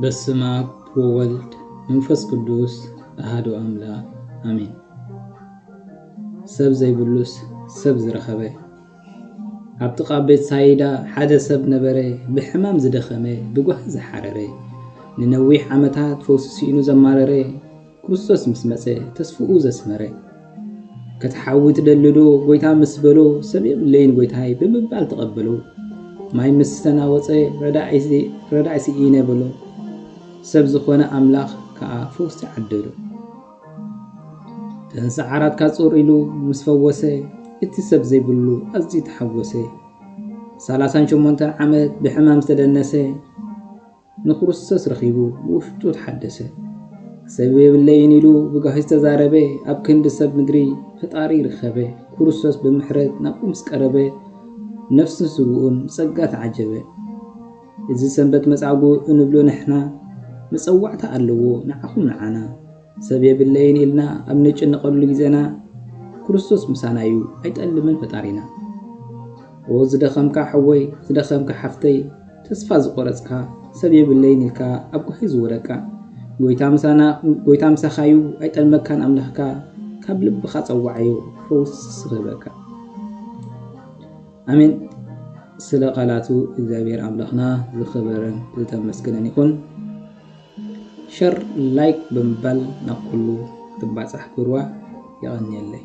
በስመኣብ ወወልድ መንፈስ ቅዱስ ኣሃዱ ኣምላክ ኣሜን ሰብ ዘይብሉስ ሰብ ዝረኸበ ኣብ ጥቃ ቤት ሳይዳ ሓደ ሰብ ነበረ ብሕማም ዝደኸመ ብጓሂ ዝሓረረ ንነዊሕ ዓመታት ፈውሲ ሲኢኑ ዘማረረ ክርስቶስ ምስ መጸ ተስፍኡ ዘስመረ። ክትሓዊ ትደልዶ ጎይታ ምስ በሎ ሰብ የብለይን ጎይታይ ብምባል ተቐበሎ። ማይ ምስ ተናወጸ ረዳኢ ስኢነ በሎ። ሰብ ዝኾነ ኣምላኽ ከኣ ፈውሲ ዓደሎ። እተን ሰዓራት ካጾር ኢሉ ምስ ፈወሰ እቲ ሰብ ዘይብሉ ኣዝዩ ተሓጎሰ። ሰላሳን ሸሞንተን ዓመት ብሕማም ዝተደነሰ። ንክርስቶስ ረኺቡ ብውሽጡ ተሓደሰ። ሰብ የብለይን ኢሉ ብጋሂ ዝተዛረበ ኣብ ክንዲ ሰብ ምድሪ ፈጣሪ ረኸበ። ክርስቶስ ብምሕረት ናብኡ ምስ ቀረበ ነፍሱን ስግኡን ብጸጋ ተዓጀበ። እዚ ሰንበት መጻጉእ እንብሎ ንሕና መጸዋዕታ ኣለዎ ንዓኹም ንዓና። ሰብ የብለይን ኢልና ኣብ ንጭነቐሉ ግዜና ክርስቶስ ምሳና እዩ ኣይጠልምን ፈጣሪና። ኦው ዝደኸምካ ሐወይ ዝደኸምካ ሐፍተይ ተስፋ ዝቖረጽካ ሰብ የብለይን ኢልካ ኣብ ጓሂ ዝወደቅካ ጎይታ ምሳና ጎይታ ምሳኻ እዩ ኣይጠልመካን ኣምላኽካ ካብ ልብኻ ጸዋዓዮ ፈውሲ ክህበካ። ኣሜን። ስለ ቃላቱ እግዚኣብሔር ኣምላኽና ዝኸበረን ዝተመስገነን ይኹን። ሸር ላይክ ብምባል ናብ ኩሉ ክትባፃሕ ግብርዋ የቀንየለይ።